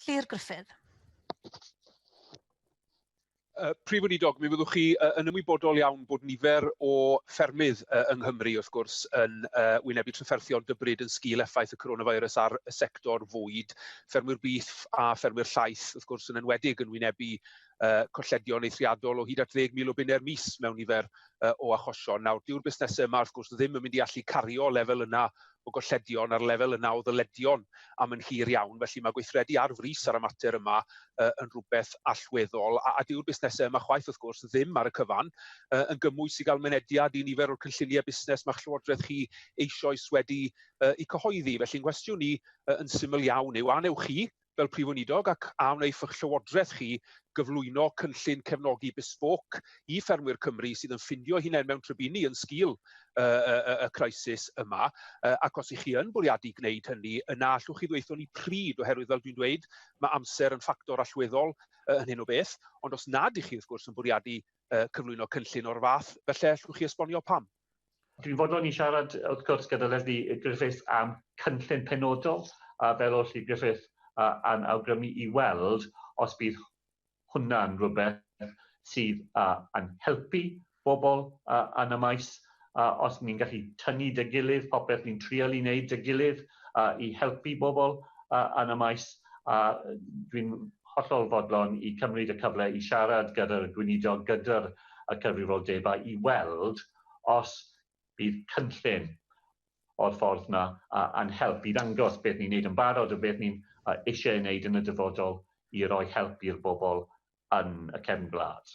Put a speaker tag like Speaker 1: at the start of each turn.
Speaker 1: Llyr Gruffydd. Uh, Prif Weinidog, mi fyddwch chi uh, yn ymwybodol iawn bod nifer o ffermydd uh, yng Nghymru, wrth gwrs, yn uh, wynebu trafferthion dybryd yn sgil effaith y coronavirus ar y sector fwyd, ffermwyr byth a ffermwyr llaeth, wrth gwrs, yn enwedig yn wynebu uh, colledion eithriadol o hyd at 10,000 o bunau'r mis mewn nifer uh, o achosion. Nawr, dyw'r busnesau yma, wrth gwrs, ddim yn mynd i allu cario lefel yna o golledion ar lefel y naw ddyledion am yn hir iawn, felly mae gweithredu ar frys ar y mater yma uh, yn rhywbeth allweddol, a, a dyw'r busnesau yma chwaith wrth gwrs ddim ar y cyfan, uh, yn gymwys i gael mynediad i nifer o'r cynlluniau busnes mae Llywodraeth chi eisoes wedi uh, i cyhoeddi. Felly'n nghwestiwn i uh, yn syml iawn yw, a newch chi, fel Prif Weinidog ac a wnaiff eich Llywodraeth chi gyflwyno cynllun cefnogi bespoke i ffermwyr Cymru sydd yn ffindio hunain mewn trybini yn sgil uh, uh, y crisis yma, uh, ac os ych chi yn bwriadu gwneud hynny, yna allwch chi ddweithio ni pryd, oherwydd fel dwi'n dweud, mae amser yn ffactor allweddol uh, yn hyn o beth, ond os nad ych chi wrth gwrs yn bwriadu uh, cyflwyno cynllun o'r fath, felly allwch chi esbonio pam. Dwi'n fodlon i siarad, wrth gwrs, gyda Lesley Griffiths am cynllun penodol, a fel o'r Llydd Griffith a, a'n awgrymu i weld os bydd hwnna'n rhywbeth sydd a, yn helpu bobl a, yn y maes, a os ni'n gallu tynnu dy gilydd, popeth ni'n trial i wneud dy gilydd a, i helpu bobl a, yn y maes, a dwi'n hollol fodlon i cymryd y cyfle i siarad gyda'r gweinidog, gyda'r y cyfrifoldebau i weld os bydd cynllun o'r ffordd yna yn help i ddangos beth ni'n wneud yn barod a beth ni'n eisiau ei wneud yn y dyfodol i roi help i'r bobl yn y cefn gwlad.